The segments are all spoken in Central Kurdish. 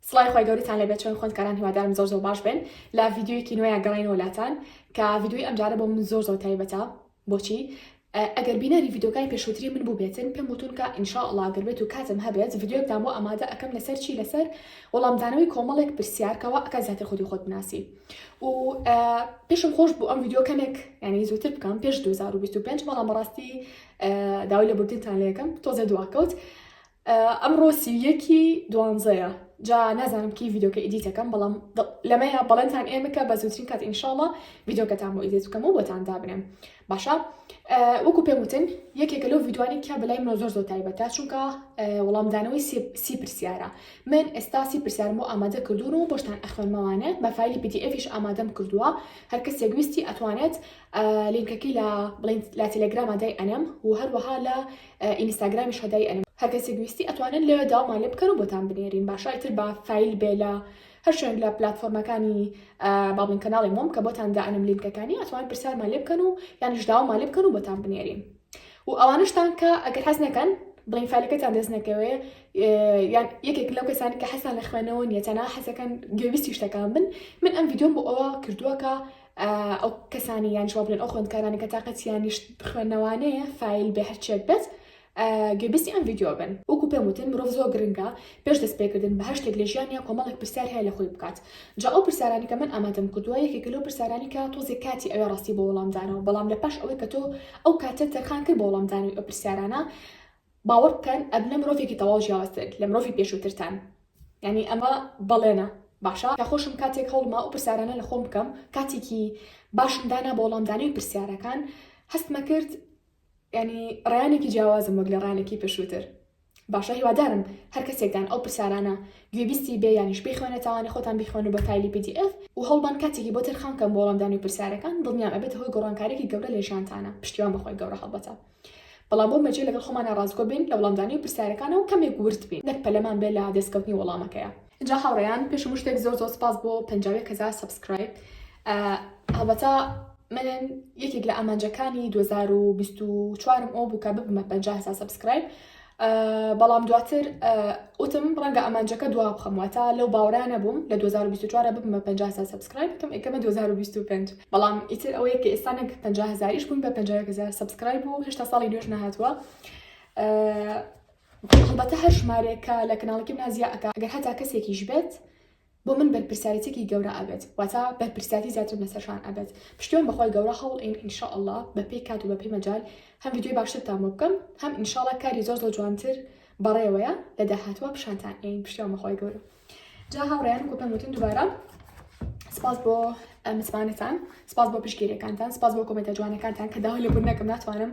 سڵای خۆی گەورتان لەبێت چۆن خوندکاران هیوادارم زۆر زۆر باش بن لە ڤیددیویەکی نوێیان گەڕینەوە لاتان کە ڤیددیوی ئەمجارە بۆ من زۆر زۆر تایبەتە بۆچی ئەگەر بینەری ڤیددیوکای پێشوتری من بووبێتن پێم وتونکە ئینشاءڵا گەر بێت و کاتم هەبێت ڤیددیوکدام بۆ ئامادە ئەەکەم لەسەر چی لەسەر وەڵامدانەوەی کۆمەڵێک پرسیارکەوە ئەکە زیاتر خودی خۆت بناسی و پێشم خۆش بوو ئەم ڤیددیو کەمێک ینی زووتر بکەم پێش 2025 بەڵام بەڕاستی داوای لە بردنتان لەکەم تۆزە دواکەوت. ئەمڕۆ سی و یەکی دوانزەیە جا نازانم کی ڤیدۆکە ئیدیتەکەم بەڵام لەمەیە بەڵێنتان ئێمە کە بە زووترین کات ئینشاڵە ڤیدۆکەتان بۆ ئیدێت بکەم و بۆتان دابنێم باشە وەکو پێم وتن یەکێکە لەو ڤیدوانی کە بەلای منۆ زۆر زۆر تایبەتە چونکە وەڵامدانەوەی سی پرسیارە من ئێستا سی پرسیارم بۆ ئامادە کردوون و بۆشتان ئەخوێنمەوانە بە فیلی پیتی ئەفیش ئامادەم کردووە هەر کەس یەگویستی ئەتوانێت لینکەکەی لە بڵین لە تەلەگرامادای ئەنەم و هەروەها لە ئینیستاگرامی شەدای ئەلم. هەر کەسیک ویستی ئەتوانن لەوێ داومان لێ بکەن و بۆتان بنێرین باشە ئیتر با فایل بێ لە هەر شوێنک لە پلاتفۆرمەکانی با بڵێن کەناڵی مۆم کە بۆتان دا ئەنم لینکەکانی ئەتوان پرسیارمان لێ بکەن و یانیش داومان لێ بکەن و بۆتان بنێرین و ئەوانشتان کە ئەگەر حەز نەکەن بڵین فالەکەتان دەست نەکەوێ یان یەکێک لەو کەسانی کە حەسان لە خوێنەوە نیە تەنها حەزەکەن گوێویستی شتەکان بن من ئەم یددیۆم بۆ ئەوە کردووە کە ئەو کەسانی یان جواب بدەن ئەو خوێندکارانە کە تااقەتیان نیشت خوێندنەوانەیە فیل بێ هەرچێک بێت گوێبیستی ئەم ویددیو بن وەکو پێم وتن مرۆڤ زۆر گرنگە پێش دەست پێکردن بە هەشتێک لە ژیانیا کۆمەڵێک پرسیار هەیە لە خۆی بکات جا ئەو پرسیارانی کە من ئامادەم کردووە یەکێکە لەو پرسیارانی کە تۆزێ کاتی ئەوێ ڕاستی بۆ وەڵامدانەوە بەڵام لە پاش ئەوەی کە تۆ ئەو کاتە تەرخان کرد بۆ وەڵامدانی ئەو پرسیارانە باوەڕ بکەن ئەبنە مرۆڤێکی تەواو جیاوازتر لە مرۆڤی پێشووترتان یعنی ئەمە بەڵێنە باشە کە خۆشم کاتێک هەوڵما ئەو پرسیارانە لە خۆم بکەم کاتێکی باشم دانا بۆ وەڵامدانەوەی پرسیارەکان هەستمە کرد ینی ڕیانێکی جیاوازم وەک لە ڕانێکی پێشووتر باشە هیوادارم هەر کەسێکدان ئەو پرسیارانە گوێبیستی بێ یانیش بخوێنە تاوانە خۆتان بخوێن و بە تایلی PDF و هەڵبان کاتێکی بۆ تەرخان کەم بۆڵامدانی پرسیارەکان دڵنیام ئەبێت هۆی گۆڕانکارێکی گەورە لە ژیانتانە پشتیوان بەخۆی گەورە هەڵبەتە بەڵام بۆ مەرجە لەگەڵ خۆمانا ڕاستگۆ بین لە وەڵامدانی پرسیارەکانەوە کەمێک ورد بین نەک پەلەمان بێ لە دەستکەوتنی وەڵامەکەیا. ئینجا هاوڕێیان پێش هەموو شتێک زۆر زۆر سپاس بۆ پەنجا و یەک هەزار سەبسکرایب هەڵبەتە من یەکێک لە ئامانجەکانی دوو هەزار و بیست و چوار م ئەوە بوو کە ببمە پەنجا هەزار سەبسکرایب بەڵام دواتر وتم ڕەنگە ئەمانجەکە دوا بخەم واتە لەو باورانە بووم لە 2024 ببمە 50 سا سبسکرایب بکەم ئەکەمە 2025 بەڵام ئیتر ئەوەیە کە ئێستانێک 50 هزاریش بوون بە 50 هزار سبسکرایب و هێشتا ساڵی نوێش نەهاتووە هەڵبەتە هەر ژمارێکە لە کەناڵەکەم نازیاکە ئەگەر هەتا کەسێکیش بێت بۆ من بەرپرسیاریتێکی گەورە ئەبێت واتا بەرپرسیاتی زیاترم لەسەر شان ئەبێت پشتیوان بەخوای گەورە هەوڵ ئین ان شاء اللە بەپێی کات و بەپێی مەجال هەم ڤیدیۆی باشترتان بۆ بکەم هەم ان شاء اللە کاری زۆر زۆر جوانتر بەڕێوەیە لە داهاتوە پیشانتان ئەین پشتیوان بەخوای گەورە جا هاوڕێیان کو پێم وتن دوبارە سپاس بۆ متمانەتان سپاس بۆ پشتگیریەکانتان سپاس بۆ کۆمێنتە جوانەکانتان کە داوا لێبوون نەکەم ناتوانم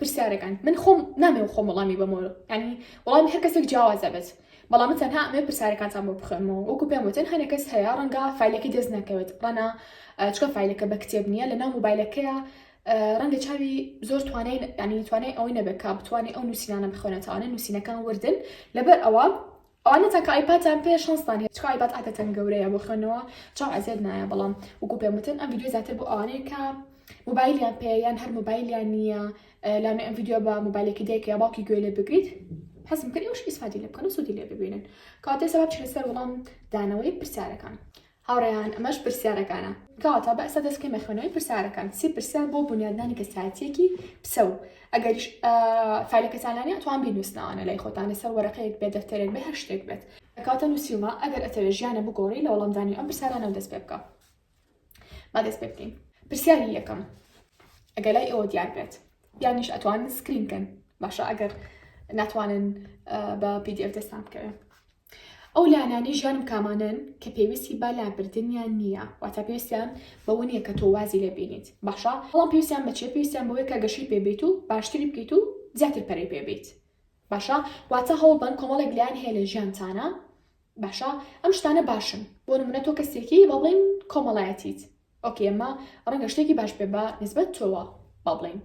پرسیارەکان من خۆم نامێ خۆم وەڵامی بەمۆ ینی وەڵامی هەر کەسێک جیاوازە بێت بەڵام تەنها ئەمێ پرسیارەکانتان بۆ بخوێنمەوە وەکو پێم وتن هەنێک کەس هەیە ڕەنگە فیلەکەی دەست نەکەوێت ڕەنا چکە فیلەکە بە کتێب نییە لە ناو موبایلەکەیە ڕەنگە چاوی زۆر توانای ینی توانای ئەوەی نەبێت کا بتوانێت ئەو نووسینانە بخوێنێتەوانە نووسینەکان وردن لەبەر ئەوە ئەوانە تاکە ئایپاتان پێیە شانستان هەیە چکە ئایپات عادەتەن گەورەیە بۆ خوێندنەوە چاو ئەزێت نایە بەڵام وەکو پێم وتن ئەم ڤیدیۆ زیاتر بۆ ئەوانەیە کە موبایلیان پێیە یان هەر موبایلیان نییە لانە ئەم ڤیدیۆ بە موبایلێکی دایکە یا باوکی گوێ لێ بگریت حەزم کرد ئێوەش ئیسفادی لێ بکەن و سوودی لێ ببینن کاتێ سەباب چی لەسەر وەڵام دانەوەی پرسیارەکان هاوڕێیان ئەمەش پرسیارەکانە. کەواتە بەسە دەست بکەین بە خوێندنەوەی پرسیارەکان. سی پرسیار بۆ بونیادنانی کەسایەتییەکی پسەو. ئەگەریش فعلەکەتان لا نییە ئەتوان بینووسنەوانە لای خۆتان لەسەر وەرەقەیەک بێت دەفتەرێک بێت هەر شتێک بێت. کەواتە نووسیومە ئەگەر ئەتەوێت ژیانە بگۆڕی لە وەڵامدانی ئەم پرسیارانەوە دەست پێ بکە. با دەست پێ بکەین. پرسیاری یەکەم ئەگەر لای ئێوە دیار بێت یانیش ئەتوانن سکرین بکەن باشە ئەگەر ناتوانن بە پی دی ئەف دەستان بکەوێت. ئەو لانانەی ژیانم کامانەن کە پێویستی بە لابردنیان نییە، واتە پێویستیان بەوە نییە کە تۆ وازی لێ بینیت باشە، بەڵام پێویستیان بە چییە؟ پێویستیان بەوەیە کە گەشەی پێ بێیت و باشتری بکەیت و زیاتر پەرەی پێ بێیت باشە، واتە هەوڵبەن کۆمەڵێک لایەن هەیە لە ژیانتانا باشە، ئەم شتانە باشن بۆ نموونە تۆ کەسێکی با بڵێین کۆمەڵایەتیت، ئۆکەی ئەمە ڕەنگە شتێکی باش بێ بە نسبەت تۆوە با بڵین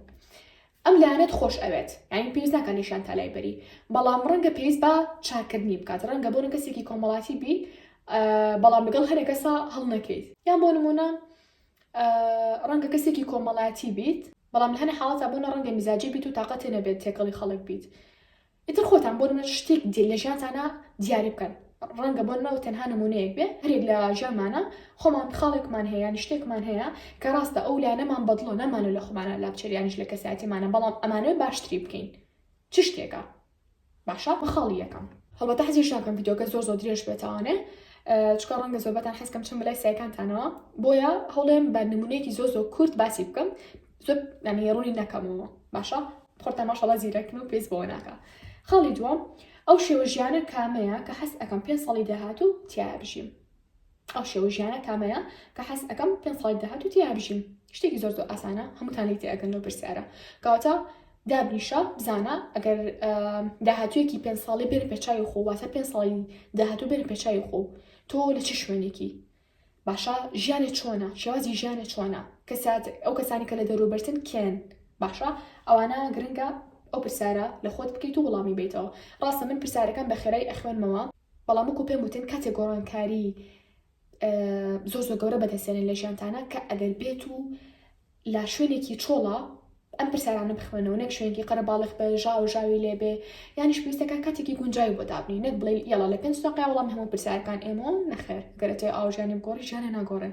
ئەم لایەنەت خۆش ئەوێت یاین پێویست ناکە نیشان تا لای بەری بەڵام ڕەنگە پێویست بە چاکردنی بکات ڕەنگە بۆ کەسێکی کۆمەڵاتی بی بەڵام لەگەڵ هەرە کەسا هەڵ نەکەیت یان بۆ نمونە ڕەنگە کەسێکی کۆمەڵاتی بیت بەڵام هەنە حاڵەتە بۆ نە ڕەنگە میزاجی بیت و تااقەتێ نەبێت تێکەڵی خەڵک بیت ئیتر خۆتان بۆ نمونە شتێک دی لە ژیانتانا دیاری بکەن ڕەنگە بۆ نمەوە تەنها نمونەیەک بێ هەرێک لە ژیانمانە خۆمان خاڵێکمان هەیە یانی شتێکمان هەیە کە ڕاستە ئەو لانەمان بەدڵە نامانە لە خۆمانە لا بچریانیش لە کەساتیمانە بەڵام ئەمانەوە باشتری بکەین چ شتێکە باشە بەخاڵی یەکەم هەڵبەتە حەزیش ناکەم یددیوکە زۆر زۆر درێژ بێتوانێ چکە ڕەنگە زۆربەتان حەزکەم چم لای سایکانتانەوە بۆیە هەڵێم بە نمونەیەکی زۆ زۆ کورت باسی بکەم زۆر نانی ڕوونی نەکەمەوە باشە خۆتان ماشەڵا زیرەکن و پێست بەوە ناکە خاڵی دووە ئەو شێوە ژیانە کامەیە کە حەست ئەەکەم پێ ساڵی داهات و تیا بژیم ئەو شێوە ژیانە کامەیە کە حەست ئەەکەم پێ ساڵی داهات و تیا بژیم شتێکی زۆر زۆر ئاسانە هەمووتان لی تێگەن لەو پرسیارە کەواتە دابنیشە بزانە ئەگەر داهاتویەکی پێ ساڵی بێن پێچوی خۆ واتە پێ ساڵی داهاتوو بێن پێچوی خۆ تۆ لە چ شوێنێکی باشە ژیانێ چۆنە شێوازی ژیانێ چۆنە کەسات ئەو کەسانی کە لە دەروبەرتن کێن باشە ئەوانە گرنگە ئەو پرسیارە لە خۆت بکەیت و وڵامی بیتەوە ڕاستە من پرسیارەکان بە خێرای ئەخوێنمەوە بەڵام وەکو پێم وتن کاتێک گۆڕانکاری زۆر زۆر گەورە بەدەستێنن لە ژیانتانە کە ئەگەر بێت و لە شوێنێکی چۆڵە ئەم پرسیارانە بخوێنەوە نەک شوێنێکی قەرەباڵغ بێ ژاو ژاوی لێ بێ یانیش پێویستەکە کاتێکی گونجاوی بۆ دابنێ نەک بڵێ یەڵا لە پێنج دەقەیە وەڵام هەموو پرسیارەکان ئێمە و نەخێر گەرە تۆ ئاو ژیانی بگۆڕی ژیانە ناگۆڕێ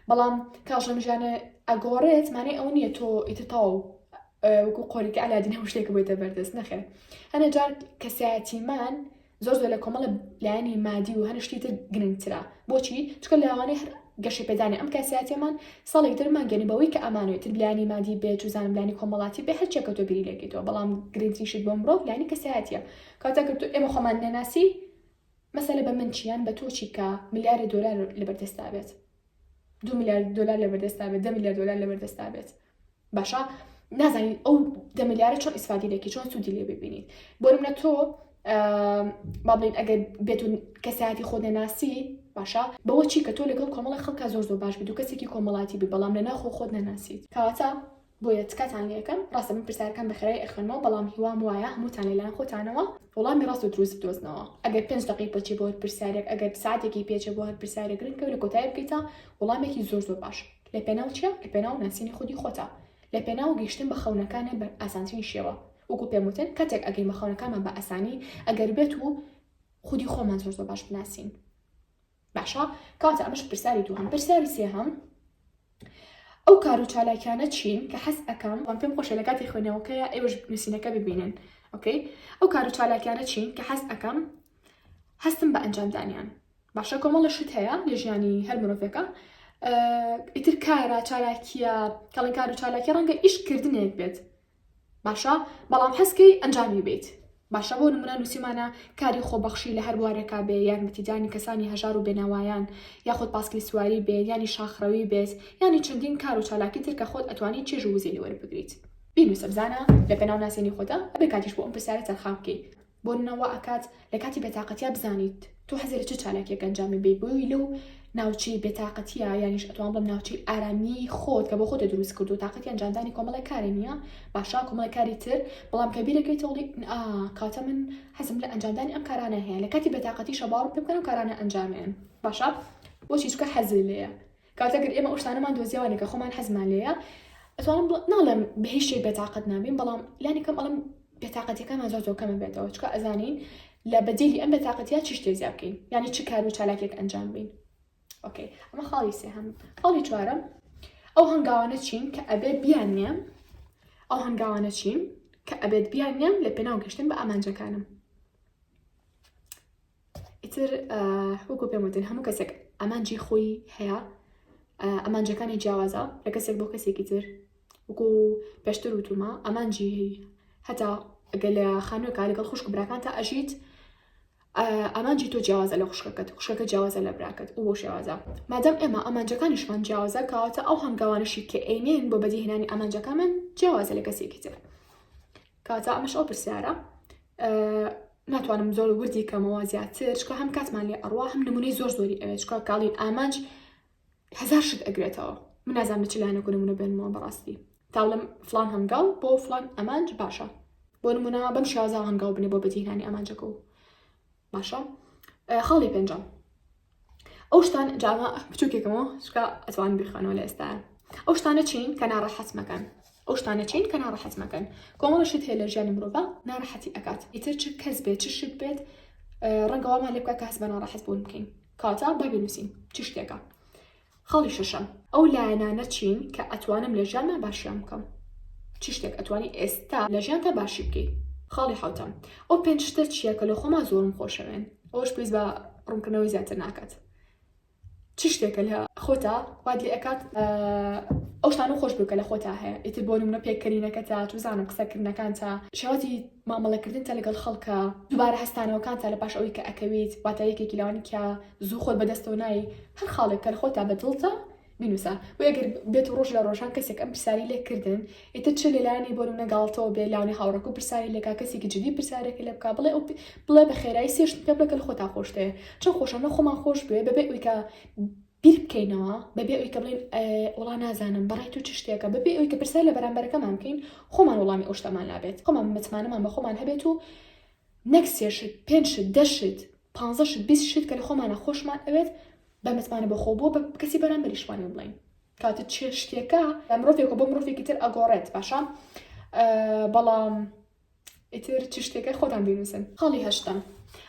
بەڵام کاژەم ژیانە ئەگۆڕێت مانای ئەو نییە تۆ ئیتر تەواو وەکو قۆریکە ئەلادین هەموو شتێک بێتە بەردەست نەخێر هەنە جار کەسایەتیمان زۆر زۆر لە کۆمەڵە لایەنی مادی و هەر شتی تر گرنگترە بۆچی چکە لاوانەی هەر گەشە پێدانی ئەم کاسیاتێمان ساڵێک دەرمان گەێنی بەوەی کە ئەمانوێت تر بلانی مادی بێت و زانبلانی کۆمەڵاتی بێ هەرچێک کە تۆ بیری لەکەیتەوە بەڵام گرنگتریشت بۆ مرۆڤ لانی کەسایەتە کاتە کرد ئێمە خۆمان نەناسی مەسەلە بە من چیان بە تۆچی کە ملیارە دۆلار لەبەردەستابێت دو میلیارد دلار لە بەردەستا بێت دە میلیارد دلار لە بەردەستا بێت باشە نازانین ئەو دە میلیارە چۆن ئیسفادی لەکی چۆن سوودی لێ ببینیت بۆ منە تۆ با بڵین ئەگەر بێت و کەسایەتی خۆ نەناسی باشە بەوە چی کە تۆ لەگەڵ کۆمەڵی خەڵکە زۆر زۆر باش بێت و کەسێکی کۆمەڵاتی بی بەڵام لە ناخۆ خۆت نەناسیت کەواتە بۆیە تکاتان لێکەم ڕاستە من پرسیارەکان بە خێرای ئەخوێنمەوە بەڵام هیوام وایە هەمووتان لەلایەن خۆتانەوە وەڵامی ڕاست و دروست بدۆزنەوە ئەگەر پێنج دقی بچێ بۆ هەر پرسیارێک ئەگەر ساعتێکی پێچێ بۆ هەر پرسیارێک گرنگە و لە کۆتایی بکەیتە وەڵامێکی زۆر زۆر باش لە پێناو چیە لە پێناو ناسینی خودی خۆتە لە پێناو گەیشتن بە خەونەکانت بە ئاسانترین شێوە وەکو پێم وتن کاتێک ئەگەین بە خەونەکانمان بە ئاسانی ئەگەر بێت و خودی خۆمان زۆر زۆر باش بناسین باشە کاتە ئەمەش پرسیاری دووهەم پرسیاری سێهەم ئەو کار و چالاکیانە چین کە حەز ئەەکەم وان پێم خۆشە لە کاتی خوێنەوەکەیە ئێوەش نووسینەکە ببینن ئۆکەی ئەو کار و چالاکیانە چین کە حەز ئەەکەم هەستم بە ئەنجامدانیان باشە کۆمەڵە شت هەیە لە ژیانی هەر مرۆڤەکە ئیتر کارە چالاکیە کەڵی کار و چالاکی ڕەنگە ئیشکردنێک بێت باشە بەڵام هەستکەی ئەنجامی بیت باشە بۆ نمونە نوسیومانە کاری خۆبەخشی لە هەر بوارێکا بێ یارمەتیدانی کەسانی هەژار و بێناوایان یاخود پاسکیل سواری بێ یانی شاخڕەوی بێت یانی چەندین کار و چالاکی تر کە خۆت ئەتوانی چێژ و وزەی لێ وەربگریت بینوسە بزانە لەپێناو ناسینی خۆتا ئەبێ کاتیش بۆ ئەم پرسیارە تەرخان بکەی بۆنمونە وا ئەکات لە کاتی بێتاقەتیا بزانیت تۆ حەزی لە چ چالاکیەک ئەنجامی بی بۆی لەو ناوچەی بێتاقەتیە یانیش ئەتوان بڵم ناوچەی ئارامی خۆت کە بۆ خۆتە دروست کردو تااقەتی ئەنجامدانی کۆمەڵە کاری نییە باشا کۆمەڵە کاری تر بەڵام کە بیرەکەی تۆڵی کاتە من حەزم لە ئەنجامدانی ئەم کارانە هەیە لە کاتی بێتاقەتی شەباڕ پێ بکەن و کارانە ئەنجامیان باشە بۆچی چکە حەزی لەیە کاتێک ئێمە ئەو شتانەمان دۆزیەوانە کە خۆمان حەزمان لێیە ئەتوانم ناڵێم بە هیچ شتێک بێتاقەت نابین بەڵام لانی کەم ئەڵم بێتاقەتەکەمان زۆر زۆر کەمە بێتەوە چکە ئەزانین لە بەدیلی ئەم بێتاقەتیا چ شتێ زیاب بکەین یعنی چ کار و چالاکێک ئەنجام بین ئۆکەی ئەمە خاڵی سێ هەم خاڵی چوارم ئەو هەنگاوانە چین کە ئەبێ بیان نیە ئەو هەنگاوانە چین کە ئەبێت بیان نیان لە پێناو گەشتن بە ئامانجەکانم ئیتر وەکو پێم وتن هەموو کەسێک ئامانجی خۆی هەیە ئەمانجەکانی جیاوازە لە کەسێک بۆ کەسێکی تر وەکو پێشتر وتومە ئەمانجی هەتا ئەگەر لە خانووەکە لەگەڵ خوشک براکان تا ئەژیت ئامانجی تۆ جیاوازە لە خوشکەکەت خوشکەکە جیاوازە لە براکەت و بۆ شێوازە مادەم ئێمە ئامانجەکانیشمان جیاوازە کاواتە ئەو هەنگاوانشی کە ئەینێن بۆ بەدیهێنانی ئامانجەکانمان جیاوازە لە کەسێکی تر کاتا ئەمەش ئەو پرسیارە ناتوانم زۆر وردی کەمەوە زیاتر چکە هەم کاتمان لێ ئەڕوا هەم نمونەی زۆر زۆری ئەوێ چکە کاڵین ئامانج هزار شت ئەگرێتەوە من نازان لە چ لایەنەکو نمونە بێنمەوە بەڕاستی تاڵم فلان هەنگاو بۆ فلان ئەمانج باشە بۆ نمونە بەم شازا هەنگاو بنێ بۆ بەجیهانی ئەمانجەکە و باشە خاڵی پێنجەم ئەو شتان جاوە بچووکێکەوە شکا ئەتوان بیخوانەوە لە ئێستا ئەو شتانە چین کە ناڕەحەت مەکەن ئەو شتانە چین کە ناڕەحەت مەکەن کۆمەڵە شت هەیە لە ژیانی مرۆڤە ناڕەحەتی ئەکات ئیتر چ کەس بێت چ شت بێت ڕەنگەوامان لێ بکە کاس بە ناڕەحەت بوون بکەین کاتا بابی نووسین چ شتێکە خاڵی شەشەم، ئەو لایەنانە چین کە ئەتوانم لە ژیانما باشیان بکەم؟ چ شتێک ئەتوانی ئێستا لە ژیانتا باشی بکەی؟ خاڵی حەوتەم، ئەو پێنج شتە چییە کە لە خۆما زۆرم خۆشەوێن؟ ئەوەش پێویست بە ڕوونکردنەوەی زیاتر ناکات. چ شتێکە لە خۆتا وات لێ ئەکات ئەو شتانە خۆش بکە لە خۆتا هەیە؟ ئیتر بۆ نمونە پێکەنینەکەتا، توزانم قسەکردنەکانتا، شێوازی مامەڵەکردنتە لەگەڵ خەڵکە دووبارە هەستانەوەکانتە لە پاش ئەوەی کە ئەکەویت واتە یەکێکی لەوانی کە زوو خۆت بەدەستەوە نای هەر خاڵێک کە خۆتا بە دڵتە بینوسە و ئەگەر بێت و ڕۆژ لە ڕۆژان کەسێک ئەم پرسیاری لێ کردن ئیتر چ لەلایانی بۆن و نەگاڵتەوە بێ لاوانی هاوڕک و پرسیاری لێکا کەسێکی جدی پرسیارێکی لە بکە بڵێ بڵێ بە خێرایی سێشت پێ بڵێ کە خۆتا خۆشتەیە چۆن خۆشە نە خۆمان خۆش بێ بەبێ ئەویکە بیر بکەینەوە بەبێ ئەوی کە بڵێن وڵا نازانم بەڕای تو چ شتێکە بەبێ ئەوی کە پرسیار لە بەرامبەرەکەمان بکەین خۆمان وڵامی ئەو شتەمان لابێت خۆمان متمانەمان بە خۆمان هەبێت و نەک سێشت پێنجشت دەشت پانزەشت بیست شت کە لە خۆمانە خۆشمان ئەوێت بە متمانە بە خۆ بووە بە کەسی بەرامبەریشمانی بڵین کاتە چێ شتێکە لە مرۆڤێکە بۆ مرۆڤێکی تر ئەگۆڕێت باشە بەڵام ئیتر چ شتێکە خۆتان بینوسن خاڵی هەشتم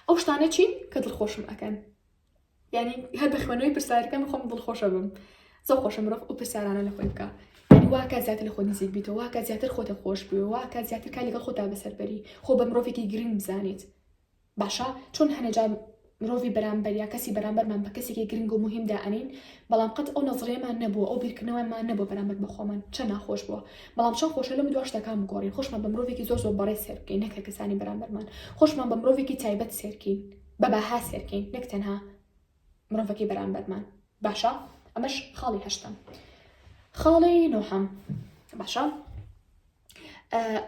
ئەو شتانە چین کە دڵخۆشم ئەەکەن یعنی هەر بە خوێنەوەی پرسیارەکەم خۆم دڵخۆشە بم زۆر خۆشە مرۆڤ ئەو پرسیارانە لە خۆی بکە یعنی واکە زیاتر لە خۆ نزیک بیتەوە واکە زیاتر خۆتە خۆش بوێ واکە زیاتر کا لەگەڵ خۆتا بەسەربەری خۆ بە مرۆڤێکی گرنگ بزانیت باشە چۆن هەنەجار مرۆڤی بەرامبەر یا کەسی بەرامبەرمان بە کەسێکی گرنگ و مهمدا ئەنین بەڵام قەت ئەو نەزرێمان نەبوو ئەو بیرکردنەوەمان نەبوو بەرامبەر بە خۆمان چە ناخۆش بووە بەڵام چەند خۆشە لەم دووە شتەکان بگۆڕین خۆشمان بە مرۆڤێکی زۆر زۆر بەڕێ سێرکەین نەکە کەسانی بەرامبەرمان خۆشمان بە مرۆڤێکی تایبەت سێرکین بە بەها سێرکەین نەک تەنها مرۆڤەکەی بەرامبەرمان باشە ئەمەش خاڵی هەشتم خاڵی نۆحەم باشە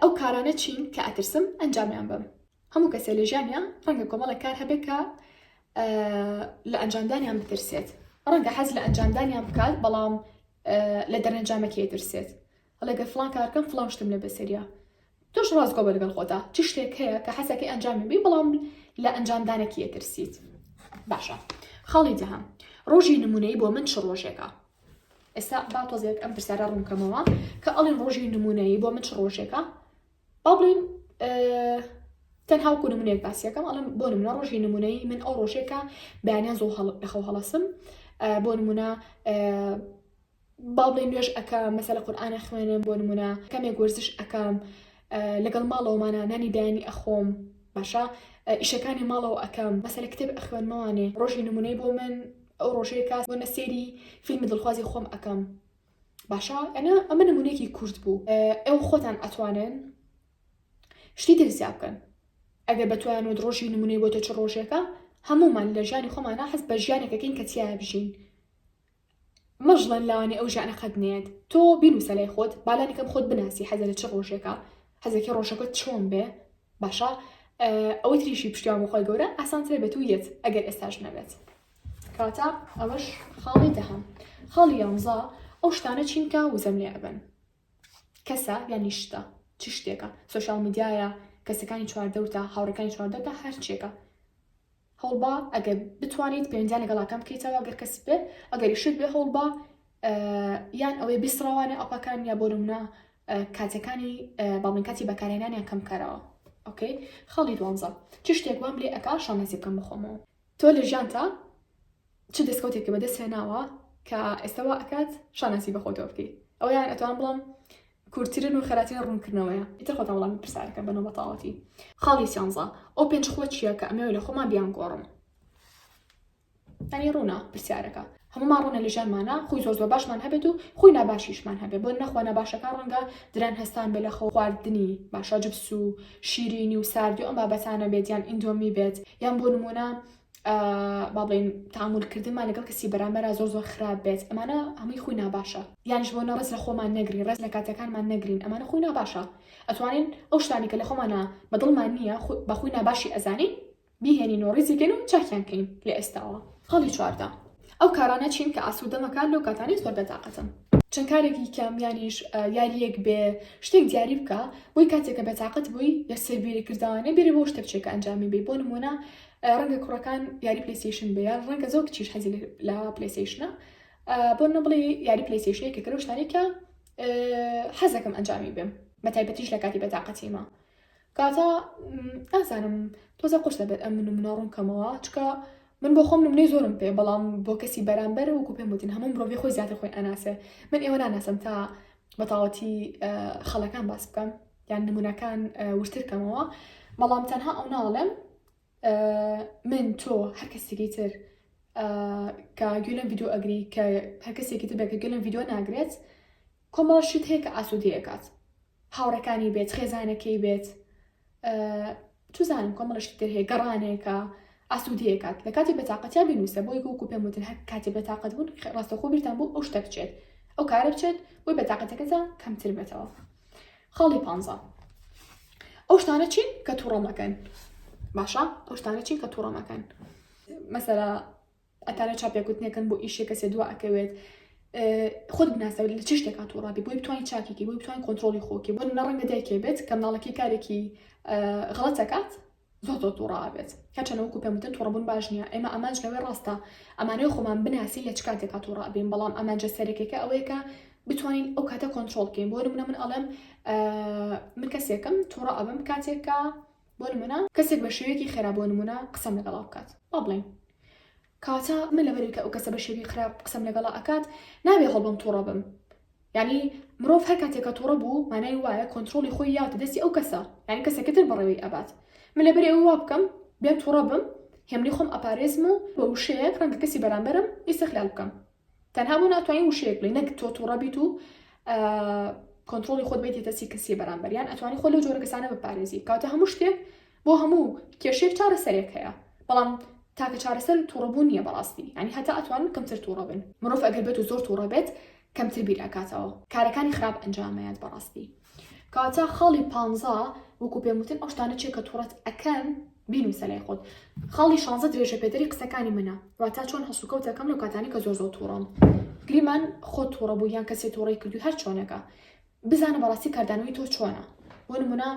ئەو کارانە چین کە ئەترسم ئەنجامیان بم هەموو کەسێ لە ژیانیان ڕەنگە کۆمەڵە کار هەبێت کە لە ئەنجامدانیان بترسێت ڕەنگە حەز لە ئەنجامدانیان بکات بەڵام لە دەرەنجامەکەی درسێت ئەڵێ گەر فڵان کار بکەم فڵان شتم لێ بەسەریا تۆش ڕاستگۆ بە لەگەڵ خۆتا چ شتێک هەیە کە حەزەکەی ئەنجامی بی بەڵام لە ئەنجامدانەکی ئەترسیت باشە خاڵی دەهام ڕۆژی نمونەی بۆ من چ ڕۆژێکە ئێستا با تۆزێک ئەم پرسیارە ڕوونکەمەوە کە ئەڵین ڕۆژی نمونەیی بۆ من چ ڕۆژێکە با بڵین تەنها وکو نمونێک باسیەکەم ئەڵم بۆ نمونە ڕۆژی نمونەی من ئەو ڕۆژێکە بەیانیان زۆ لەخەو هەڵەسم بۆ نمونە با بڵێین نوێژ ئەکەم مەسەلە قورئان ئەخوێنم بۆ نمونە کەمێک وەرزش ئەکەم لەگەڵ ماڵەوەمانە نانی بەیانی ئەخۆم باشە ئیشەکانی ماڵەوە ئەکەم مەسەلە کتێب ئەخوێنمەوانێ ڕۆژی نمونەی بۆ من ئەو ڕۆژەیە کاس بۆ نەسێری فیلمی دڵخوازی خۆم ئەکەم باشە ئەنا ئەمە نمونێکی کورت بوو ئەو خۆتان ئەتوانن شتی تر زیاب بکەن ئەگەر بەتوان و ڕۆژی نمونەی بۆ تۆ چ ڕۆژێکە هەمومان لە ژیانی خۆمانە حەز بە ژیانێکەکەین کە تیا بژین مەژڵێن لانی ئەو ژانە قەت نەیەت تۆ بینوسە لای خۆت بالانی کەم خۆت بناسی حەزە لە چ ڕۆژێکە حەزەکە ڕۆژەکە چۆن بێ باشە ئەوەی تریشی پشتیان بخوای گەورە ئاسانترێ بە تو یەت ئەگەر ئێستاش نەبێت کاتا ئەوەش خاڵی دەهەم خاڵی یانزا ئەو شتانە چینکە وزەم لێ ئەبن کەسە یانی شتە چ شتێکە سۆشیال میدیایە کەسەکانی چواردەورتە هاوڕەکانی چواردەورتە هەر چێکە هەوڵبا ئەگەر بتوانیت پێنجان لەگەڵاکەم بکەیتەوە گەر کەس بێ ئەگەری شت بێ هەوڵبا یان ئەوەی بیسڕەوانە ئەپەکان یا بۆ نمونە کاتەکانی باڵین کاتی بەکارێنانیان کەم کارەوە ئۆکەی خاڵی دوانزە چ شتێک وام لێ ئەک شانازی بکەم بخۆمەوە تۆ لە ژیانتا چ دەسکەوتێک کە بەدەست هێناوە کە ئێستا وا ئەکات شاناسی بەخۆتەوە بکەیت ئەویان ئەتوان بڵام کورتترین و خەراترین ڕوونکردنەوەیە ئیتر خۆتان وڵامی پرسیارەکە بەنەوە بەتاڵەتی خاڵی سیانزە ئەو پێنج خووە چییە کە ئەمەوێ لە خۆمان بیان گۆڕم ئەنی ڕوونە پرسیارەکە هەمومان ڕوونە لە ژیانمانە خۆی زۆر زۆر باشمان هەبێت و خۆی ناباشیشمان هەبێت بۆ نەخوا ناباشەکە ڕەنگە دران هەستان بێ لە خۆ خواردنی باشە جبس و شیرینی و ساردی ئەم بابەتانە بێت یان ئیندۆمی بێت یان بۆ نمونە بابین تامولکردنمان لەگەڵ کەسی بەرامبەرا زۆر زۆر خراپ بێت ئەمانە هەمووی خۆی ناباشە یانش بۆ نەڕز لە خۆمان نەگرین ڕێز لە کاتەکانمان نەگرین ئەمانە خۆی ناباشە ئەتوانین ئەو شتانی کە لە خۆمانە بەدڵمان نییە بەخۆی ناباشی ئەزانین بیهێنین و ڕیزیکەن و چاکیان کەین لە ئێستاوە خەڵی چواردا ئەو کارانە چین کە ئاسوودەمەکان لەو کاتانی زۆر بەتاقەتم چەند کارێکی کامیانیش یاریەک بێ شتێک دیاری بکە بۆی کاتێکە بەتاقەت بووی لە سەربیری کردوانە بێرە بۆ شتێکچێکە ئەنجامی بی بۆ نمونە ڕەنگە کوڕەکان یاری پلەیستەیشن بێیان ڕەنگە زۆر کچیش حەزی لە پلەیستەیشنە بۆ نەبڵێ یاری پلەیستەیشنێکە کە لەو شتانێکە حەزەکەم ئەنجامی بێم بە تایبەتیش لە کاتی بەتاقەتیمە کاتا ئازانم تۆزە قۆش دەبێت ئەم من منە ڕوون کەمەوە چکە من بۆ خۆم نمونەی زۆرم پێ بەڵام بۆ کەسی بەرامبەر وکو پێم وتن هەموو مرۆڤی خۆی زیاتر خۆی ئەناسێ من ئێوە ناناسم تا بەتاوەتی خەڵەکان باس بکەم یان نمونونەکان وشتر کەمەوە بەڵام تەنها ئەو ناڵێم من تۆ هەر کەسێکی تر کە گوێلم یددیو ئەگری کە هەر کەسێکی تر بەکە گەلم یددیو ناگرێت کۆمەڵ شت هەیە کە ئاسوودەیەکات هاوڕەکانی بێت خێزانەکەی بێت توزانم کۆمەڵشت تر هەیە گەڕانێکە ئاسوودەیەکات لە کاتی بەتاقەتیا بنووسە بۆی گوکو پێم وتن هەر کاتی بەتاقەت بوون ڕاستەخۆ بیرتان بۆ ئەو شتە بچێت ئەو کارە بچێت بۆی بەتاقەتەکەتان کەمتر بێتەوە خاڵی پ ئەو شتانە چین کە تووڕەمەکەن باشە ئەو شتانە چین کە تووڕەمەکەن مەسەرە ئەتانە چاپێکوتنێکن بۆ ئیشێک کەسێ دوا ئەکەوێت خود بناسەوە لە چ شتێکا تووڕابی بۆی بتوانین چاکێکی بۆی بتوانین کۆنتترۆلی خۆکی بۆ نەڕەنگە دایکێ بێت کە مناڵەکەی کارێکی غڵەتەکات زۆر زۆر تووڕابێت هەچەنەوەکو پێم وتن توڕبوون باش نییە ئێمە ئەمانج لەوەی ڕاستە ئەمانەوە خۆمان بناسی لە چ کاتێکا تووڕابین بەڵام ئەمانجە سەرەکەکە ئەوەیەکە بتوانین ئەو کاتە کۆنتترۆل بکەین بۆ منە من ئەڵێم من کەسێکم تووڕە ئەبم کاتێکە بۆ نمونە کەسێک بە شێوەیەکی خێرا بۆ نمونە قسەم لەگەڵا بکات با بڵێین کاتە من لەبەر کە ئەو کەسە بە شێوی خراپ قسەم لەگەڵا ئەکات نابێ هەڵبم تووڕە بم یعنی مرۆڤ هەر کاتێکە تووڕە بوو مانای وایە کۆنتترۆلی خۆی یاوتە دەستی ئەو کەسە یعنی کەسەکەتر بەڕێوەی ئەبات من لەبەر ئەو وا بکەم بێن تووڕە بم هێمنی خۆم ئەپارێزم و بە وشەیەک ڕەنگە کەسی بەرامبەرم ئیسەخلال بکەم تەنها بۆ ناتوانین وشەیەک بڵێ نەک تۆ توڕە بیت و کۆنتترۆلی خۆت بیت تەسی کەسی بەرامبەریان ئەتوانی خۆ لە جۆرە کەسانە بپارێزی کاتە هەموو شتێک بۆ هەموو کێشێک چارە سەرێک هەیە بەڵام تاکە چارەسەر توڕەبوو نییە بەڕاستی ینی هەتا ئەتوان کەمتر توڕە بن مرۆڤ ئەگەر بێت و زۆر توڕە بێت کەمتر بیر ئەکاتەوە کارەکانی خراپ ئەنجامەیەات بەڕاستی کاتا خاڵی پانزە وەکو پێم وتن ئەو شتانە چیە کە توڕەت ئەکەن بینوسە لای خۆت خاڵی شانزە درێژە پێدەری قسەکانی منە واتا چۆن هەڵسوکەوت ئەکەم لەو کاتانی کە زۆر زۆر توڕەم گریمان خۆ توڕە بوو یان کەسێ توڕی کردو هەر چۆنەکە بزانە بەڕاستی کاردانەوەی تۆ چۆنە بۆ نمونە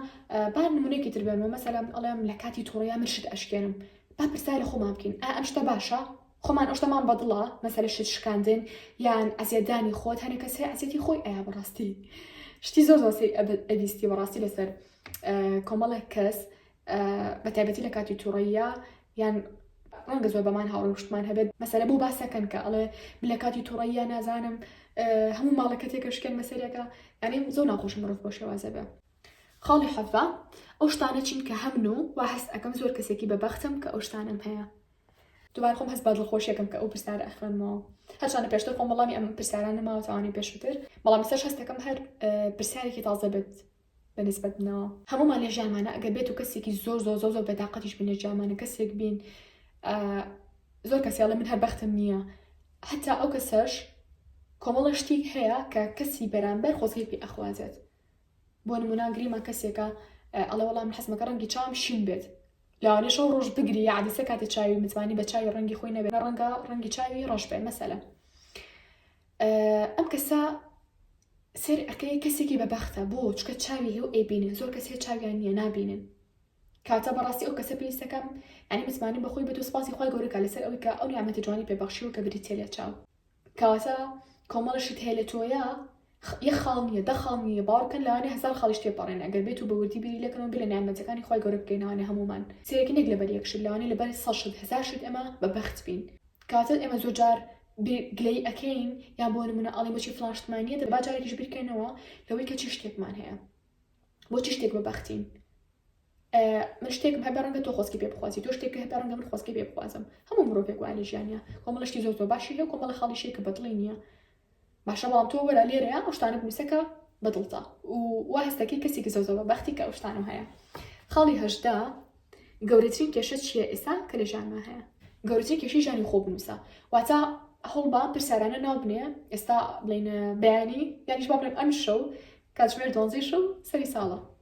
با نمونێکی تر بێنەوە مەسەلەم ئەڵێم لە کاتی توڕەیە من شت ئەشکێنم با پرسای لە خۆمان بکەین ئا ئەم شتە باشە خۆمان ئەوشتەمان بەدڵە مەسەلە شت شکاندن یان ئەزیەتدانی خۆت هەنێ کەس هەیە ئەزیەتی خۆی ئەیا بەڕاستی شتی زۆر زۆر سەی ئەبیستی بەڕاستی لەسەر کۆمەڵێک کەس بەتایبەتی لە کاتی توڕەیە یان ڕەنگە زۆر بەمان هاوڕشتمان هەبێت مەسەرە بۆ باسەکەن کە ئەڵێ لە کاتی توڕەیە نازانم هەموو ماڵەکە تێکەشکێن مەسەرەکە ئەنی زۆر ناخۆش مرۆڤ بۆ شێوازە بێ خاڵی حەفا ئەو شتانە چین کە هەمن و وا هەست ئەەکەم زۆر کەسێکی بەبختم کە ئەو شتانم هەیە دوبارە خۆم هەست بە دڵخۆشیەکەم کە ئەو پرسیارە ئەخوێنمەوە هەرچانە پێشتر خۆم وەڵامی ئەم پرسیارانە ماوە تاوانەی پێشووتر بەڵام سەر هەستەکەم هەر پرسیارێکی تازە بێت بەنسبەت منەوە هەمومان لە ژیانمانە ئەگەر بێت و کەسێکی زۆر زۆر زۆر زۆر بەتاقەتیش بین لە جیامانە کەسێک بین زۆر کەسیڵە من هەر بەختم نییە حتا ئەو کەسەش کۆمەڵە شتیک هەیە کە کەسی بەرامبەر خۆزگەی پێ ئەخوازێت بۆ نمونە گریما کەسێکە ئەڵێ وەڵام من حەزمەکە ڕەنگی چاوم شین بێت لەوانێ شەو ڕۆژ بگری یادیسە کاتی چاوی متمانی بە چاوی ڕەنگی خۆی نەبێت ڕەنگە ڕەنگی چاوی ڕەش بێ مەسەلە ئەم کەسە سێر ئەەکەی کەسێکی بەبەختە بۆ چکە چاوی هێو ئەیبینن زۆر کەس هەیە چاویان نییە نابینن کاتە بەڕاستی ئەو کەسە پێویستەکەم ئەنی متمانی بەخۆی بێت و سپاسی خۆی گەورەکە لەسەر ئەوی کە ئەو نیامەتی جوانی پێبەخشی و کە بریتێ لە چاو کەواتە کۆمەڵە شت هەیە لە تۆیە یەک خاڵ نییە دە خاڵ نییە باوەڕکەن لەوانێ هەزار خاڵیش تێپەڕێنە ئەگەر بێت و بە وردی بیری لێ کەمەوە بیر لە نیعمەتەکانی خوای گەورە بکەین لەوانێ هەموومان سەیرێکی نەک لەبەر یەک شت لەوانێ لەبەر سەد شت هەزار شت ئێمە بە بەخت بین کەواتە ئێمە زۆر جار گلەی ئەکەین یان بۆ نمونە ئەڵێن بۆچی فڵان شتمان نییە دەبا جارێکیش بیرکەینەوە لەوەی کە چی شتێکمان هەیە بۆ چی شتێک بە بەختین من شتێکم هەبێ ڕەنگە تۆ خۆسکی پێ بخوازی تۆ شتێک هەبێ ڕەنگە من خۆسکی پێ بخوازم هەموو مرۆڤێک وایە لە ژیانیا کۆمەڵە شتی زۆر زۆر باشی هەیە و کۆمەڵە خاڵی شێکە بەدڵی نییە باشە بەڵام تۆ وەرە لێرەیە ئەو شتانە بنووسەکە بەدڵتە و وا هەستەکەی کەسێکی زۆر زۆر بەختی کە ئەو شتانم هەیە خاڵی هەشدا گەورەترین کێشە چییە ئێستا کە لە ژیانما هەیە گەورەترین کێشەی ژیانی خۆ بنووسە واتە هەوڵبا پرسیارانە ناو بنێ ئێستا بڵێن بەیانی یانیش با بڵێن ئەم شەو کاتژمێر دۆنزی شەو سەری ساڵە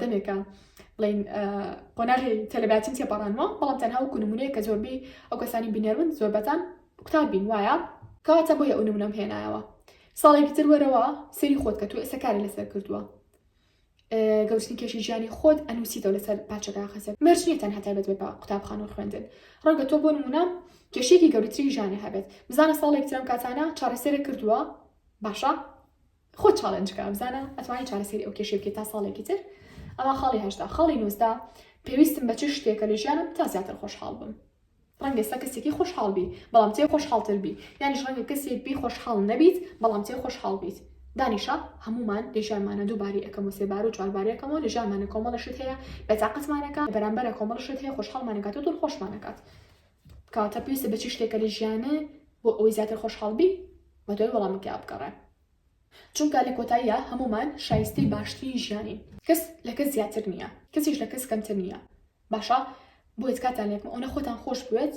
دەمێکە بڵین قۆناغی تەلەباتیم تێپەڕانوە بەڵام تەنها و کونمونەیە کە زۆربەی ئەو کەسانی بینەرون زۆربەتان قوتار بین وایە کەواتە بۆیە ئەو نمونەم هێنایەوە ساڵێکی تر وەرەوە سەری خۆت کە تو ئێستا کاری لەسەر کردووە گەوتنی کێشی ژیانی خۆت ئەنووسیتەوە لەسەر پاچەکە خەسەر مەرج نیە تەنها تایبەت بە قوتابخان و خوێندن ڕەنگە تۆ بۆ نمونە کێشێکی گەورەتری ژیانی هەبێت بزانە ساڵێک ترم کاتانە چارەسەرە کردووە باشە خۆت چاڵێنج بکە بزانە ئەتوانی چارەسەری ئەو کێشەی بکەیت تا ساڵێکی تر ئەوە خاڵی هەشتا خاڵی نووسدا پێویستم بە چ شتێکە لە ژیانم تا زیاتر خۆشحاڵ بم ڕەنگە ئێستا کەسێکی خۆشحاڵ بی بەڵام تێ خۆشحاڵتر بی یانیش ڕەنگە کەسێک بی خۆشحاڵ نەبیت بەڵام تێ خۆشحاڵ بیت دانیشە هەمومان لە ژیانمانە دووباری ئەەکەم و سێبار و چواربارەکەمەوە لە ژیانمانە کۆمەڵە شت هەیە بەتاقەتمانەکە بەرامبەرە کۆمەڵ شت هەیە خۆشحاڵمانەکات و دڵ خۆشمانەکات کاتە پێویستە بە چی شتێکە لە ژیانە بۆ ئەوەی زیاتر خۆشحاڵ بی بە دوای وەڵامی تیا بگەڕێ چونکە لە کۆتاییە هەمومان شایستەی باشترین ژیانین کەس لە کەس زیاتر نییە کەسیش لە کەس کەمتر نییە باشە بۆیە تکاتان لێکم ئەوەنە خۆتان خۆش بوێت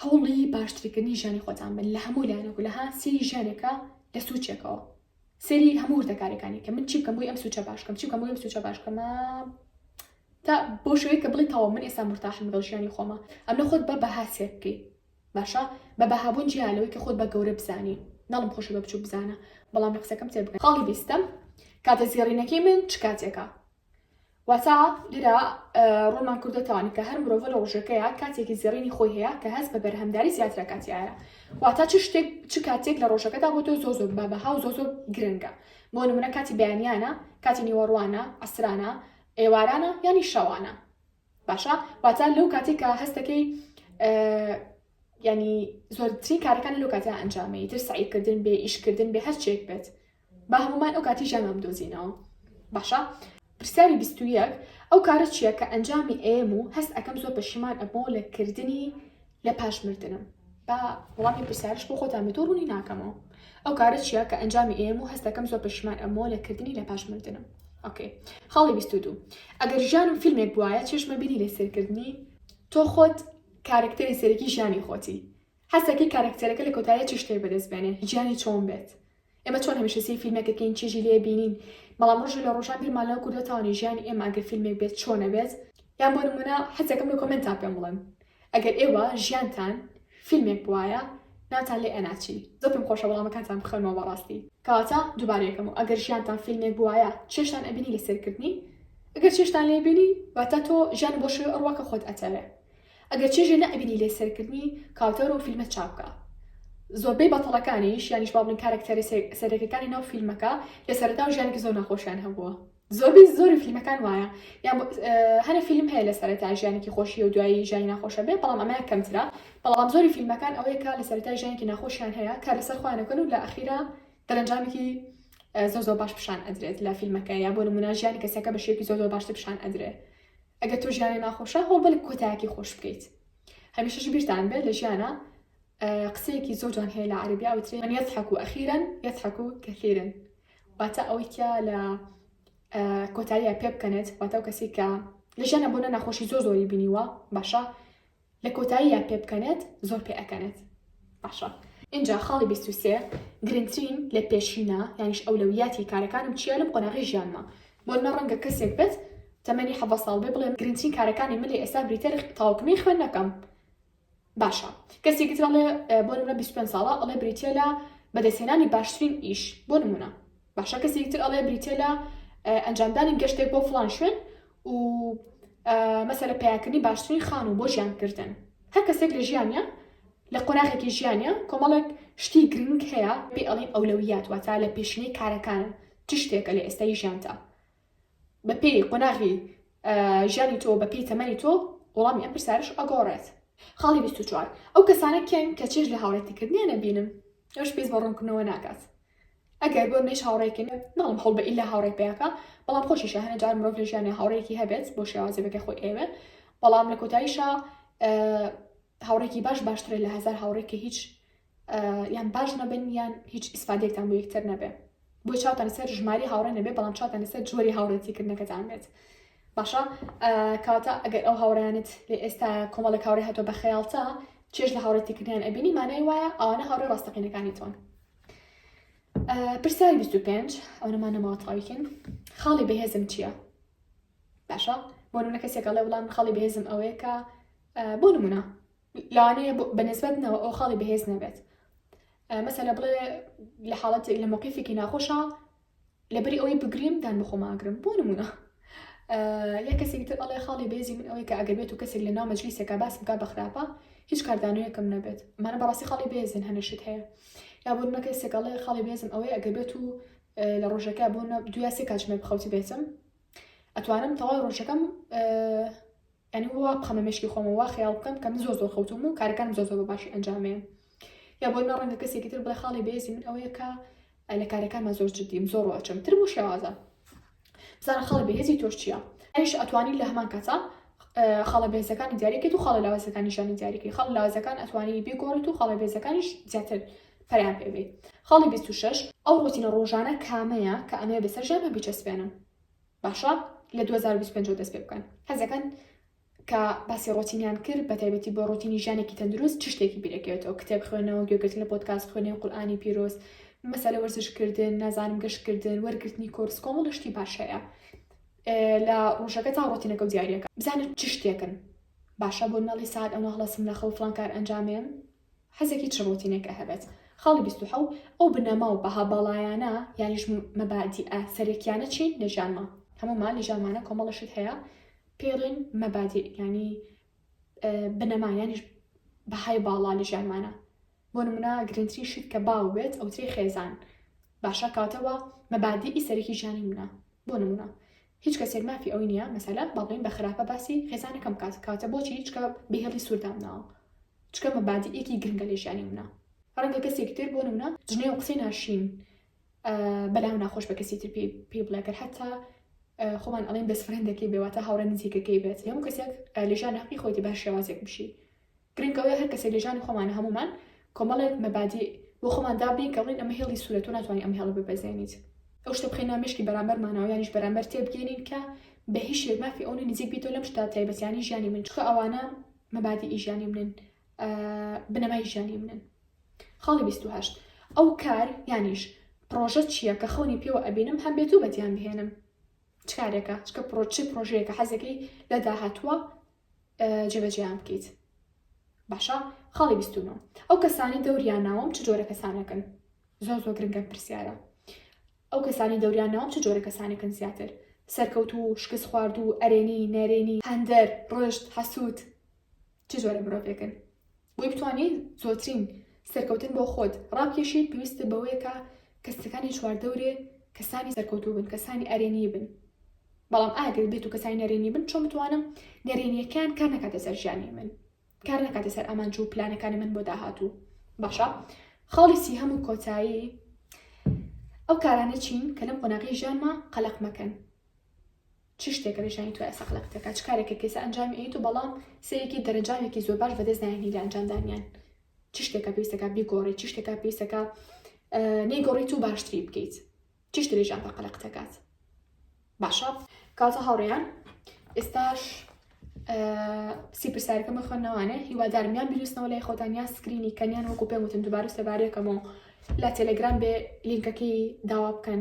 هەوڵی باشترکردنی ژیانی خۆتان بن لە هەموو لایەنەکو لەها سێری ژیانێکە لە سوچێکەوە سەیری هەموو وردەکاریەکانی کە من چی بکەم بۆی ئەم سوچە باش بکەم چی بکەم بۆی ئەم سوچە باش بکەم تا بۆ شوێک کە بڵی تەوا من ئێستا مرتاحم لەگەڵ ژیانی خۆمە ئەم لە خۆت بە بەها سێر بکەی باشە بە بەهابوون جیا لەوەی کە خۆت بە گەورە بزانی ناڵم خۆشە بە بچوو بزانە بەڵام لە قسەکەم تێ بکە خاڵی بیستم کاتە زێڕینەکەی من چ کاتێکە واتە لێرە ڕۆمان کوردە تاوانی کە هەر مرۆڤە لە ڕۆژەکەیە کاتێکی زێڕینی خۆی هەیە کە هەست بە بەرهەمداری زیاترە کاتیایە واتە چ شتێک چ کاتێک لە ڕۆژەکەدا بۆ تۆ زۆ زۆر بە بەها و زۆ زۆر گرنگە بۆ نمونە کاتی بەیانیانە کاتی نیوەڕوانە ئەسرانە ئێوارانە ینی شەوانە باشە واتە لەو کاتێکە هەستەکەی ینی زۆرترین کارەکان لەو کاتە ئەنجامی تر سعیکردن بێ ئیشکردن بێ هەرچێک بێت با هەموومان ئەو کاتی ژیانمان بدۆزینەوە باشە. پرسیاری بیست و یەک، ئەو کارە چیە کە ئەنجامی ئەیەم و هەست ئەکەم زۆر پەشیمان ئەبمەوە لە کردنی لە پاش مردنم؟ با وەڵامی پرسیارش بۆ خۆتان بێت و ڕوونی ناکەمەوە ئەو کارە چیە کە ئەنجامی ئەیەم و هەست ئەکەم زۆر پەشیمان ئەبمەوە لە کردنی لە پاش مردنم ئۆکەی خاڵی بیست و دوو ئەگەر ژیانم فیلمێک بوایە چێژمە بینی لە سەرکردنی تۆ خۆت کارکتەری سەرەکی ژیانی خۆتی هەستەکەی کارکتەرەکە لە کۆتایە چ شتێک بەدەست بێنێ ژیانی چۆن بێت ئێمە چۆن هەمیشە سەی فیلمێک دەکەین چێژی لێ بینین بەڵام ڕژێ لە ڕۆژان بیرمان لەو کوردە تاوانی ژیانی ئێمە ئەگەر فیلمێک بێت چۆنە بێت یان بۆ نمونە حەزەکەم لە کۆمنتا پێم بڵێن ئەگەر ئێوە ژیانتان فیلمێک بواە ناتان لێ ئەناچی زۆر پێم خۆشە وەڵامەکانتان بخەنەوە بەڕاستی کەواتە دووبارەیەکەم و ئەگەر ژیانتان فیلمێک بواە چێشتان ئەبینی لە سەرکردنی ئەگەر چێشتان لێبینی واتە تۆ ژیان بۆ شوێ ئەڕوا کە خۆت ئەتەوێ ئەگەر چێژێ نەئەبینی لێ سەیرکردنی کاوتەرۆ و فیلمە چاوکە زۆربەی بەتەڵەکانیش یانیش با بڵێین کارەکتەرە سەرەکیەکانی ناو فیلمەکە لە سەرەتا و ژیانێکی زۆر ناخۆشیان هەبووە زۆربەی زۆری فیلمەکان وایە یان هەنە فیلم هەیە لە سەرەتا ژیانێکی خۆشی و دوایی ژیانی ناخۆشە بێ بەڵام ئەمە کەمترا بەڵام زۆری فیلمەکان ئەوەیە کە لە سەرەتا ژیانێکی ناخۆشیان هەیە کار لەسەر خۆیانەکەن و لە ئەخیرا دەرەنجامێکی زۆ زۆ باش پیشان ئەدرێت لە فیلمەکە یا بۆ نمونە ژیانی کەسەکە بە شێوکی زۆ زۆ باشتر پیشان ئەدرێت ئەگەر تۆ ژیانە ناخۆشە هەوڵ بەلک کۆتایەکی خۆش بکەیت هەمیشەش بیرتان بێت لە ژیانە قسەیەکی زۆر جوان هەیە لە عربی ئەوترێ من یەزحەک و ئەخیرن یەزحەک و کەثیرن واتە ئەوەی کە لە کۆتاییە پێ بکەنێت واتە ئەو کەسی کە لە ژیانە بۆنە ناخۆشی زۆ زۆری بینیوە باشە لە کۆتاییا پێ بکەنێت زۆر پێ ئەکەنێت باشە. ئینجا خاڵی بیست و سێ گرنگترین لە پێشینە یانیش ئەولەویاتی کارەکانم چیە لەم قۆناغی ژیانما بۆ نمە ڕەنگە کەسێک بێت تەمەنی حەڤە ساڵ بێ بڵێم گرنگترین کارەکانی من لە ئێستا بریتەر تاوکمی خوێندنەکەم باشە کەسێکی ترڵێ بۆ نمە بیست پێنج ساڵە ئەڵێ بریتە لە بەدەستهێنانی باشترین ئیش بۆ نمونە باشە کەسێکی تر ئەڵێ بریتیە لە ئەنجامدانی گەشتێک بۆ فلان شوێن و مەسەرە پیاکردنی باشترین خان و بۆ ژیان کردن هەر کەسێک لە ژیانە لە قۆناغێکی ژیانە کۆمەڵێک شتی گرنگ هەیە پێ ئەڵین ئەولەویات واتا لە پێشینەی کارەکانە چ شتێکە لە ئێستای ژیانتە بە پێی قۆناغی ژیانی تۆ بە پێی تەمەنی تۆ وەڵامی ئەم پرسیارش ئەگۆڕێت خاڵی 24 ئەو کەسانە کێن کە چێژ لە هاوڕێتیکردنیان نەبینن ئەوش پێست بە ڕوونکردنەوە ناکات ئەگەر بۆ مێش هاوڕێکن ناڵم هەڵ بە ئیلا هاوڕێک پێیاکە بەڵام خۆشیشە هەنە جار مرۆڤ لە ژیانە هاوڕێکی هەبێت بۆ شێوازێکە خۆی ئێوێ بەڵام لە کۆتاییشە هاوڕێکی باش باشترە لە هزار هاوڕێک کە هیچ یان باش نەبن یان هیچ ئیسفادێکتان بۆ یەکتر نەبێ بۆی چاوتان سەر ژماری هاوڕێ نەبێ بەڵام چاوتان لەسەر جۆری هاوڕێتیکردنەکەتان بێت باشە کاتە ئەگەر ئەو هاوڕیانت لە ئێستا کۆمەڵە کاوری هاتۆ بە خەیاڵتە چێش لە هاوڕێتیکردیان ئەبینی مانای وایە ئەوانە هاوڕێ ڕاستەقینەکانی تۆن پرسیاری 25 ئەوەمان نەماوە تاویکن خاڵی بەهێزم چییە باشە بۆ نونە کەسێکە لە وڵام خاڵی بەهێزم ئەوەیە کە بۆ نمونە لەوانەیە بە نسبەتنەوە ئەو خاڵی بەهێز نەبێت مەسەلە بڵێ لە حاڵەت لە مۆقیفێکی ناخۆشە لەبری ئەوەی بگریم دان بخۆماگرم بۆ نمونە یە کەسێک تر ئەڵێ خاڵی بێزی من ئەوەی کە ئەگەر بێت و کەسێک لە ناو مەجلیسێکا باس بکە بەخراپە هیچ کاردانویەکەم نەبێت مانە بەڕاستی خاڵی بێزن هەنەشت هەیە یا بۆ نە کەسێکەڵێ خاڵی بێزم ئەوەی ئەگەر بێت و لە ڕۆژەکە بۆ دواسێ کاتژمێر بخەوتی بێتم ئەتوانم تەواو ڕۆژەکەم یانی وا بخەمە مێشکی خۆم و وا خەیاڵ بکەم کە من زۆر زۆر خەوتووم و کارەکانم زۆر زۆر بە باشی ئەنجامەیەم یا بۆ نمە ڕەنگە کەسێکی تر بڵێ خاڵی بەێزی من ئەوەیە کە لە کارەکانما زۆر جدیم زۆر ڕۆچم تر بۆ شێوازە بزانە خاڵی بەهێزی تۆش چییە ئەش ئەتوانی لە هەمان کاتە خاڵە بێزەکانی دیارێکێت و خاڵە لاوازەکانی شانی دیارێکی خاڵ لاوازەکان ئەتوانی بێگۆڕێت و خاڵە بێزەکانیش زیاتر پەیان پێبێت خاڵی 26 ئەو ڕۆتینە ڕۆژانە کامەیە کە ئەمەیە بەسەر ژانە بیچەسپێنم باشە لە دوو هەزار و بیست و پێنج دەست پێ بکەن حەزەکەن کە باسی ڕۆتینیان کرد بە تایبەتی بۆ ڕۆتینی ژانێکی تەندروست چ شتێکی بیرەکەوێتەوە کتێب خوێنەوە گوێگرتن لە پۆتکاس خوێنەوە قورآانی پیرۆز مەسەلە وەرزشکردن نازانم گەشتکردن وەرگرتنی کۆرس کۆمەڵ شتی باش هەیە لە ڕۆژەکە تا ڕۆتینەکە و دیارەکە بزانن چ شتێکن باشە بۆ ناڵی ساعت ئەمە هەڵسم لە خەوفلان کار ئەنجامێن حەزێکی چڕوتینێک ئەهەبێت. خاڵی بیست و حەوت، ئەو بنەما و بەها باڵایانە یانیش مەبادیئە سەرەکیانە چین لە ژیانما؟ هەموومان لە ژیانمانا کۆمەڵە شت هەیە پێڵێن مەبادیئ یانی بنەما یانیش بەهای باڵا لە ژیانمانە بۆ نمونا گرنگترین شت کە باو بێت ئەوترێ خێزان باشە کاتەوە مەبادیئی سەرەکی ژیانی منە بۆ نمونا هیچ کەسێک مافی ئەوەی نیە مەسەلە با بڵێین بە خراپە باسی خێزانەکەم بکات کەواتە بۆچی چکە بهێڵی سور دامناوە چکە مەبادیئێکی گرنگە لە ژیانی منە ڕەنگە کەسێکی تر بۆ نمونە جنێو قسەی ناشرین بەلاو ناخۆش بە کەسی تر پێی بڵێ گەر حتا خۆمان ئەڵێن بەس فرەندەکەی بێواتە هاوڕێ نزیکەکەی بێت لەمو کەسێک لە ژیان حقی خۆیتی بە شێوازێک بشی گرنگ ئەوەیە هەر کەسێک لە ژیانی خۆمانە هەموومان کۆمەڵێک مەبادیع بۆ خۆمان دابنێین کە بڵێین ئەمە هێڵی سوورە تۆ ناتوانانی ئەم هێڵە ببەزێنیت ئەو شتە بخەینە ناو مێشکی بەرامبەرمانەوە یانیش بەرامبەر تێبگەیەنین کە بە هیچ شێوەیەک مافی ئەوە نییە نزیک بیتەوە لەم شتە تایبەتییانەی ژیانی من چونکە ئەوانە مەبادیعی ژیانی منن بنەمای ژیانی منن خاڵی 28 ئەو کار یانیش پرۆژە چییە کە خەونی پێوە ئەبینم هەم بێت و بەدیان بهێنم چ کارێکە چکە پرۆچی پرۆژەیەکە حەزەکەی لە داهاتووە جێبەجێیان بکەیت باشە خاڵی بیست و نۆ ئەو کەسانی دەوریان ناوم چ جۆرە کەسانەکەن زۆر زۆر گرنگە پرسیارە ئەو کەسانی دەوریان ناوم چ جۆرە کەسانەکەن زیاتر سەرکەوت و شکست خوارد و ئەرێنی نەرێنی هەندەر ڕۆشت حەسووت چ جۆرە مرۆڤێکن بۆی بتوانیت زۆترین سەرکەوتن بۆ خۆت ڕابکێشیت پێویستە بەوەیە کە کەسەکانی چواردەورێ کەسانی سەرکەوتوو بن کەسانی ئەرێنی بن بەڵام ئاگەر بێت و کەسانی نەرێنی بن چۆن بتوانم نەرێنیەکان کار نکاتە سەر ژیانی من کار نکاتە سەر ئامانج و پلانەکانی من بۆ داهاتوو باشە خاڵی سی هەموو کۆتایی ئەو کارانە چین کە لەم قۆناغی ژیانمە قەلق مەکەن چ شتێکە نیشانی تۆیە سەقلە کچەکە؟ چ کارێکە کەیسە ئەنجامی ئەیت و بەڵام سەیرێکی دەرەنجامێکی زۆر باش بەدەست نایەنی لە ئەنجامدانیان؟ چ شتێکە پێویستەکە بیگۆڕی؟ چ شتێکە پێویستەکە نەیگۆڕیت و باشتری بکەیت؟ چ شتێ ژیان بە قەلەق دەکات؟ باشە کاتە هاوڕێیان ئێستاش سیپرسارەکەمە خوێندنەوانێ هیوادارم یان بیرستنەوە لای خۆتان یان سکرینی کەنیان وەکو پێم وتن دوبارە سەبارەکەمەوە لە تەلەگرام بێ لینکەکەی داوا بکەن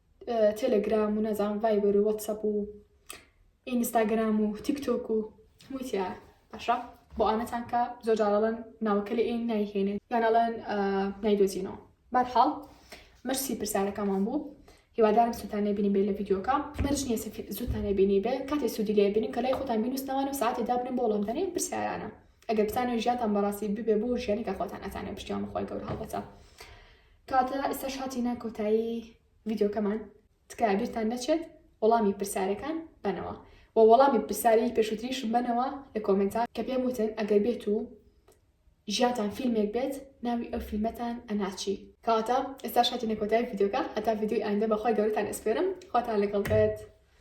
تێلێگرام و نازانم ڤایبەر و وەتسەپ و ئینستاگرام و تیکتۆک و هەمووی تیا باشە بۆ ئانەتان کە زۆر جاڵەن ناوەکە لە ئین نایهێنێت یانەڵەن نایدۆزینەوە بارحاڵ مەرسی پرسیارەکەمان بوو هیوادارم سووتانە بینی بێ لە یددیوکە مەرج نیە زووتانە بینی بێ کاتی سوودی لێ بینی کە لای خۆتان بینوستنەوەوان و ساعتی دابنم بۆ وڵامدانێن پرسیارانە ئەگەر بتانە ژیانتان بەڕاستی ببێ بۆ ژیانی کە خۆتان ئەتانە پشتیان بخۆی گەور هەڵبەتە کەواتە ئێستاش هاتینە کۆتایی ڤیدیۆکەمان تکایە بیرتان نەچێت وەڵامی پرسیارەکان بەنەوە و وەڵامی پرسیاری پێشوتریشم بەنەوە لە کۆمنتا کە پێم وتن ئەگەر بێت و ژیاتان فیلمێک بێت ناوی ئەو فیلمەتان ئەناچی کەواتە ئێستا شاتی نەکۆتای ڤیددیوکە هەتا ڤیددیوی ئایندە بەخوای گەورتان ئەسپێرم خواتان لەگەڵ بێت.